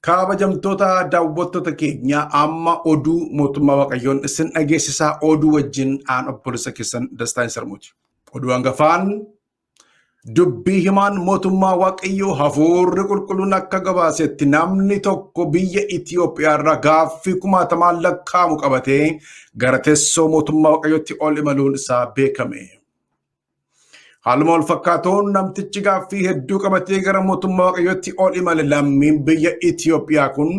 Kabajamtoota daawwattoota keenya amma oduu mootummaa Waaqayyoon isin dhageessisaa oduu wajjin aan obboleessa keessan Dastaan Sarmuuti. Oduu hangafaan Dubbii himaan mootummaa Waaqayyoo hafuurri qulqulluun akka gabaasetti namni tokko biyya Itiyoophiyaa irraa gaaffii kumaatamaan lakkaa'amu qabatee gara teessoo mootummaa Waaqayyootti ol imaluun isaa beekame. Haaluma wal fakkaatuun namtichi gaaffii hedduu qabatee gara mootummaa Waaqayyootti ol imale lammiin biyya Itiyoophiyaa kun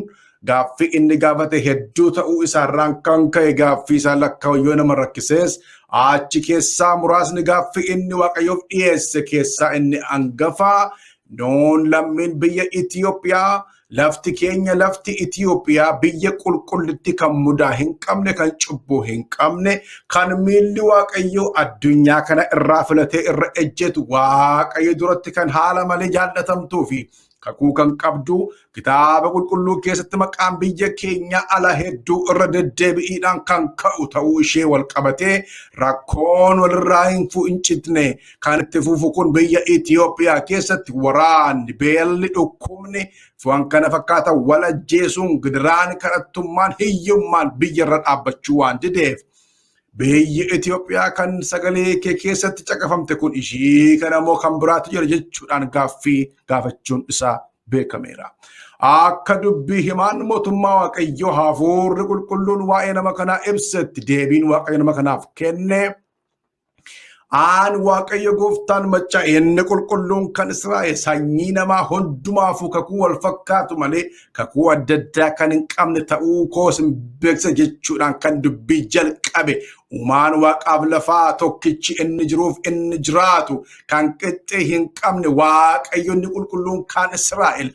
Gaaffii inni gaafate hedduu ta'uu isaarraan kan ka'e gaaffii isaa lakkaa'u yoo nama rakkisees achi keessaa muraasni gaaffii inni waaqayyoof dhiyeesse keessaa inni angafaa nuun lammiin biyya Itiyoophiyaa lafti keenya lafti Itiyoophiyaa biyya qulqullitti kan mudaa hin qabne kan cubbuu hin qabne kan miilli waaqayyoo addunyaa kana irraa filatee irra ejjetu waaqayyo duratti kan haala malee jaallatamtuu fi Kakuu kan qabdu kitaaba qulqulluu keessatti maqaan biyya keenya ala hedduu irra deddeebi'iidhaan kan ka'u ta'uu ishee wal qabatee rakkoon walirraa hin fu'incitne kan itti fufu kun biyya Itoophiyaa keessatti waraanni beelli dhukkubni waan kana fakkaatan wal ajjeesuun gidiraan kadhattummaan hiyyummaan biyyarra dhaabbachuu waan dideef Biyyi Itoophiyaa kan sagalee kee keessatti caqafamte kun ishii kana moo kan biraatu jira jechuudhaan gaaffii gaafachuun isaa beekameera. Akka dubbii himaan mootummaa Waaqayyoo hafuurri qulqulluun waa'ee nama kanaa ibsetti deebiin Waaqayyo nama kanaaf kenne Aan Waaqayyo gooftaan maccaa inni qulqulluun kan Israa'el sanyii namaa hundumaafuu kakuu wal fakkaatu malee kakuu adda addaa kan hin qabne ta'uu koo isin beeksisa jechuudhaan kan dubbii jalqabe uumaan waaqaaf lafaa tokkichi inni jiruuf inni jiraatu kan qixxee hin qabne waaqayyonni qulqulluun kan Israa'el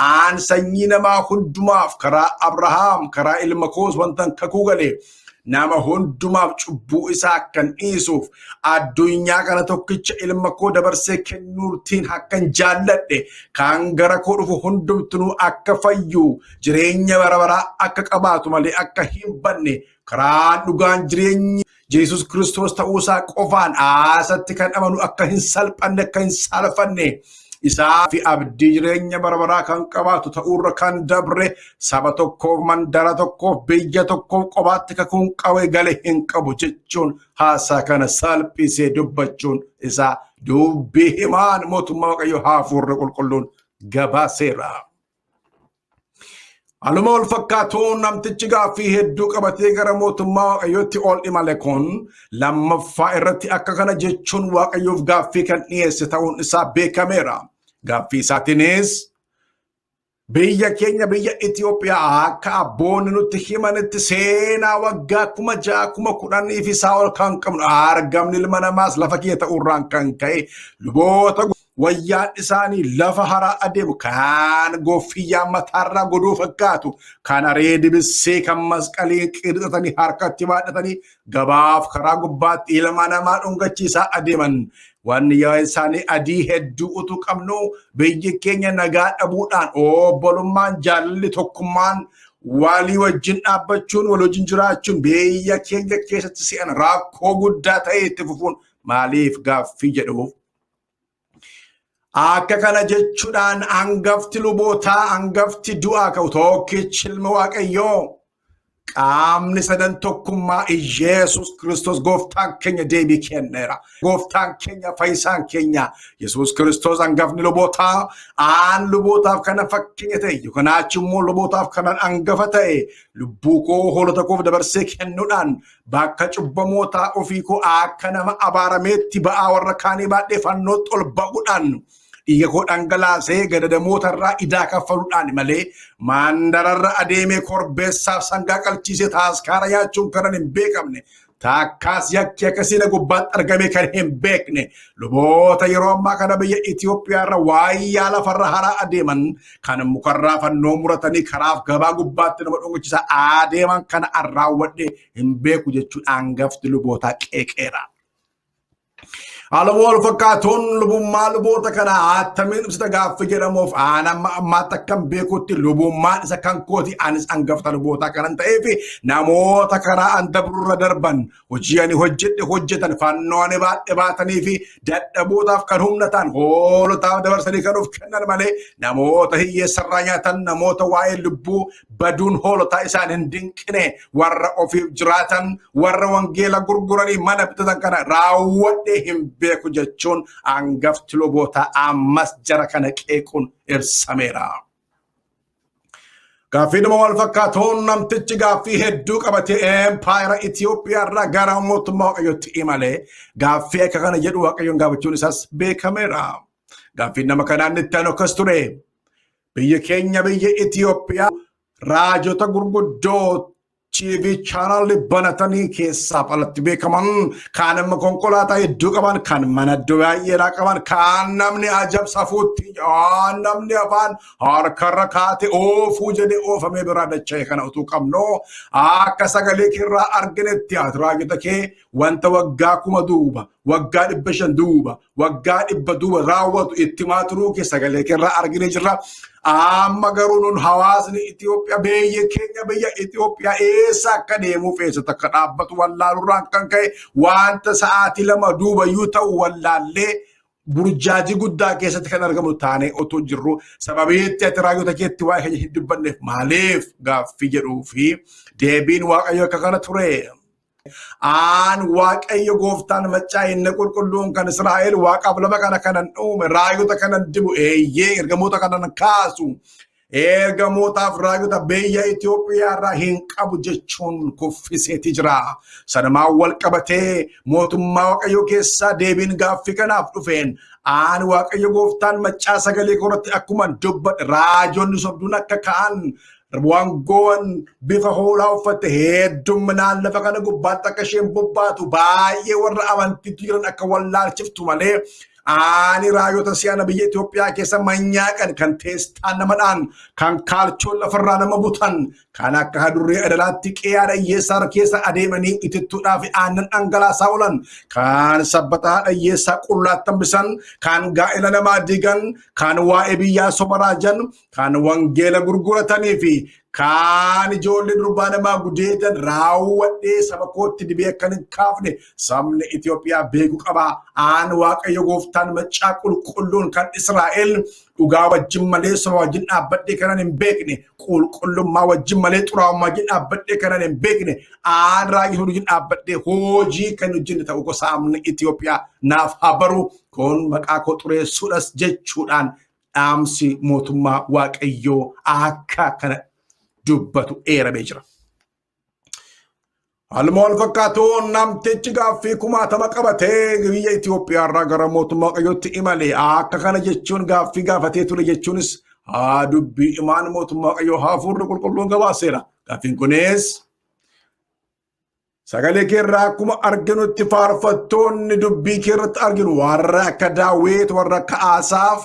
aan sanyii namaa hundumaaf karaa Abrahaam karaa ilma koos wantan kakuu galeef nama hundumaaf cubbuu isaa akkan dhiisuuf addunyaa kana tokkicha ilma koo dabarsee kennuurtiin akkan jaalladhe kan gara koo dhufu hundumtuu akka fayyu jireenya bara baraa akka qabaatu malee akka hin banne karaa dhugaan jireenyi Yesus Kiristoos ta'uusaa qofaan aasatti kan amanu akka hin salphanne akka hin saalfanne isaa fi abdii jireenya bara baraa kan qabaatu ta'uurra kan dabre saba tokkoof mandara tokkoof biyya tokkoof qobaatti kakuun qawee gale hin qabu jechuun haasaa kana salphisee dubbachuun isaa dubbii himaan mootummaa waaqayyo haafuurri qulqulluun gabaaseera. Haaluma wal fakkaatuun namtichi gaaffii hedduu qabatee gara mootummaa Waaqayyootti ol imale kun lammaffaa irratti akka kana jechuun Waaqayyoof gaaffii kan dhiyeesse ta'uun isaa beekameera. Gaaffii isaatiinis biyya keenya biyya Itoophiyaa akka abboonni nutti himanitti seenaa waggaa kuma ja'a kuma kudhanii fi isaa ol kan qabnu argamni ilma namaas lafa kiyya ta'uurraan kan ka'e luboota wayyaan isaanii lafa haraa adeemu kaan goffiyyaa mataarraa godoo fakkaatu kan aree dibissee kan masqalii qirxatanii harkatti baadhatanii gabaaf karaa gubbaatti ilma namaa dhungachiisaa adeeman wanni yaa isaanii adii hedduu utuu qabnu biyyi keenya nagaa dhabuudhaan obbolummaan jaalalli tokkummaan walii wajjin dhaabbachuun wal wajjin jiraachuun biyya keenya keessatti si'an rakkoo guddaa ta'e itti fufuun maaliif gaaffii jedhuuf Akka kana jechuudhaan hangafti lubootaa hangafti du'aa ka'u tokkichi ilma waaqayyoo qaamni sadan tokkummaa Iyeesus Kiristoos gooftaan keenya deebii kenneera. Gooftaan keenya fayyisaan keenya Yesuus Kiristoos hangafni lubootaa aan lubootaaf kana fakkeenya ta'e yookaan achi immoo lubootaaf kanan hangafa ta'e lubbuu koo hoolota koof dabarsee kennuudhaan Bakka cubbamootaa ofii koo akka nama abaarameetti ba'aa warra kaanii baadhee fannootti ol ba'uudhaan dhiiga koo dhangalaasee gadadamoota irraa idaa kaffaluudhaan malee maandararra adeemee korbeessaaf sangaa qalchiisee taaskaara nyaachuun kanan hin beekamne taakkaas yakki akkasii na gubbaatti argamee kan hin beekne luboota yeroo ammaa kana biyya Itoophiyaa irra waayyaa lafarra haraa adeeman kan mukarraa fannoo muratanii karaaf gabaa gubbaatti nama dhungichisaa adeeman kana an raawwadhe hin beeku jechuun aangafti lubootaa qeeqeera. Haaluma wal fakkaatuun lubummaa luboota kana attamiin ibsita gaaffii jedhamuuf aan amma ammaatti akkan beekutti lubummaan isa kan kooti anis angafta lubootaa kanan ta'ee fi namoota karaa an dabrurra darban Hojii ani hojjedhe hojjetan fannoo ani baadhe baatanii fi dadhabootaaf kan humna ta'an hoolotaaf dabarsanii kan of kennan malee namoota hiyyeessarraa nyaatan namoota waa'ee lubbuu baduun hoolotaa isaan hin dinqine warra ofiif jiraatan warra wangeela gurguranii mana bitatan kana raawwadhe hin beeku jechuun hangafti lubootaa ammas jara kana qeequun ibsameera. Gaaffiidhuma wal fakkaatuun namtichi gaaffii hedduu qabatee empaayera Itoophiyaa irraa gara mootummaa Waaqayyootti imalee gaaffii akka kana jedhu Waaqayyoon gaafachuun isaas beekameera. Gaaffiin nama kanaan itti aanu akkas ture. Biyyi keenya biyya Itoophiyaa raajota gurguddoo TV chaanaalli banatanii keessaaf alatti beekaman kaan immoo konkolaataa hedduu qaban kan mana iddoo baay'eedhaa qaban kaan namni ajab safuutti kaan namni afaan harkarra kaate oofuu jedhee oofamee biraa dacha'e kana utuu qabnu akka sagalee keerraa arginetti ati raajota kee wanta waggaa kuma duuba waggaa dhibba shan duuba waggaa dhibba duuba raawwatu itti himaa turuu kee sagalee keerraa argine jirra. Amma garuu nun hawaasni Itoophiyaa biyya keenya biyya Itoophiyaa eessa akka deemuuf eessatti akka dhaabbatu wallaalurraan kan ka'e wanta sa'aatii lama duuba yoo ta'u wallaallee burjaajii guddaa keessatti kan argamu taanee otoo jirru sababii itti ati raayyoota keetti waa'ee keenya hin dubbanneef maaliif gaaffii jedhuu fi deebiin waaqayyo akka kana ture. Aan Waaqayyo gooftaan maccaa inni qulqulluun kan Israa'el waaqaaf lafa kana kanan uume raayota kanan dibu eeyyee ergamoota kanan kaasu ergamootaaf raayota biyya Itoophiyaa irraa hin qabu jechuun kuffiseeti jira. Sanumaan wal qabatee mootummaa Waaqayyoo keessaa deebiin gaaffii kanaaf dhufeen aan Waaqayyo gooftaan maccaa sagalee koratti akkuman dubbadhe raajonni sobduun akka ka'an Wangoon bifa hoolaa uffatte heddumminaan lafa kana gubbaatti akka isheen bobbaatu baay'ee warra amantiitti jiran akka wallaalchiftu malee ani raayota si'ana biyya Itoophiyaa keessa manyaaqan kan teestaan nama dhaan kan kaalchoon lafarraa nama butan kan akka hadurree adalaatti qeeyaadha hiyyeessaa keessa adeemanii itittuudhaa fi aannan dhangalaasaa oolan kan sabbataa dhayyeessaa qullaattan bisan kan gaa'ela namaa diigan kan waa'ee biyyaa sobaraajan kan wangeela gurguratanii fi kaan ijoollee durbaa namaa gudeedan raawwadhee saba kootti dibee akkan hin kaafne sabni Itoophiyaa beeku qaba. Aan Waaqayyo gooftaan maccaa qulqulluun kan Israa'el dhugaa wajjin malee soba wajjin dhaabbadhee kanan hin beekne qulqullummaa wajjin malee xuraa'ummaa wajjin dhaabbadhee kanan hin beekne aan raayii wajjin dhaabbadhee hojii kan hojjenne ta'uu gosa sabni Itoophiyaa naaf haa baru kun maqaa koo xureessuudhas jechuudhaan dhaamsi mootummaa waaqayyoo akka kana dubbatu eeramee jira. Haaluma wal fakkaatuun namtichi gaaffii kumaatama qabatee biyya Itoophiyaa irraa gara mootummaa waaqayyootti imale akka kana jechuun gaaffii gaafatee ture jechuunis haa dubbii imaan mootummaa waaqayyoo hafuurri qulqulluun gabaaseera. Gaaffiin kunis Sagalee kee irraa akkuma arginutti faarfattoonni dubbii kee irratti arginu warra akka Daawit, warra akka Asaaf,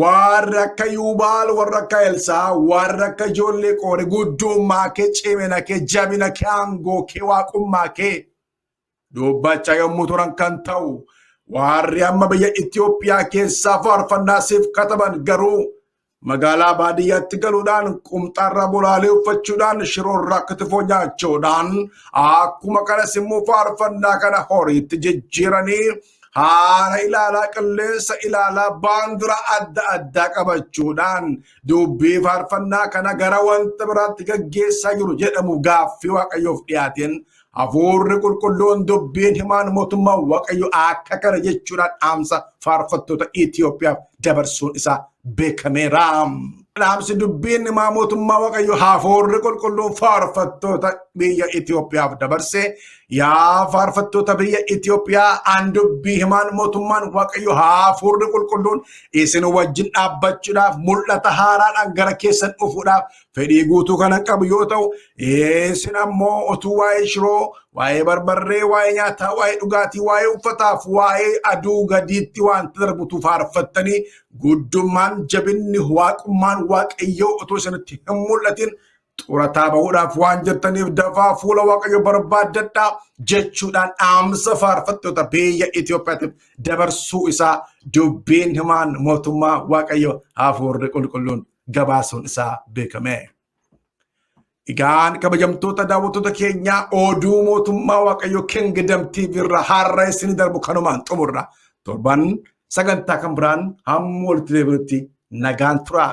warra akka Yuubaal, warra akka Elsaa, warra akka ijoollee qoore guddummaa kee, cimina kee, jabina kee, aangoo kee, waaqummaa kee Dubbachaa yommuu turan kan ta'u waarri amma biyya Itoophiyaa keessaa faarfannaa siif kataban garuu magaalaa baadiyyaatti galuudhaan qumxaarraa bolaalee uffachuudhaan shiroorraa kitifoo nyaachuudhaan akkuma kanas immoo faarfannaa kana horiitti jijjiiranii haala ilaalaa qilleensa ilaalaa baandura adda addaa qabachuudhaan dubbii faarfannaa kana gara wanta biraatti gaggeessaa jiru jedhamu gaaffii waaqayyoof dhiyaateen Hafuurri qulqulluun dubbiin himaan mootummaa Waaqayyo akka kana jechuudhaan dhaamsa faarfattoota Itoophiyaaf dabarsuun isaa beekameera. Dhaamsi dubbiin himaa mootummaa Waaqayyo hafuurri qulqulluun faarfattoota biyya Itoophiyaaf dabarse yaa faarfattoota biyya Itoophiyaa an dubbii himaan mootummaan Waaqayyo hafuurri qulqulluun isin wajjin dhaabbachuudhaaf mul'ata haaraadhaan gara keessan dhufuudhaaf fedhii guutuu kanan qabu yoo ta'u isin ammoo otuu waa'ee shiroo waa'ee barbarree waa'ee nyaataa waa'ee dhugaatii waa'ee uffataaf waa'ee aduu gadiitti wanta darbutu faarfattanii guddummaan jabinni waaqummaan waaqayyoo otuu isinitti hin mul'atin xurataa bahuudhaaf waan jirtaniif dafaa fuula waaqayyo barbaaddadhaa jechuudhaan dhaamsa faarfattoota biyya Itoophiyaatiif dabarsuu isaa dubbiin himaan mootummaa waaqayyo hafuurri qulqulluun gabaasuun isaa beekame. Egaan kabajamtoota daawwattoota keenyaa oduu mootummaa Waaqayyoo Kingdom TV irraa har'a isin darbu kanumaan xumurra. Torban sagantaa kan biraan hamma walitti deebinutti nagaan turaa.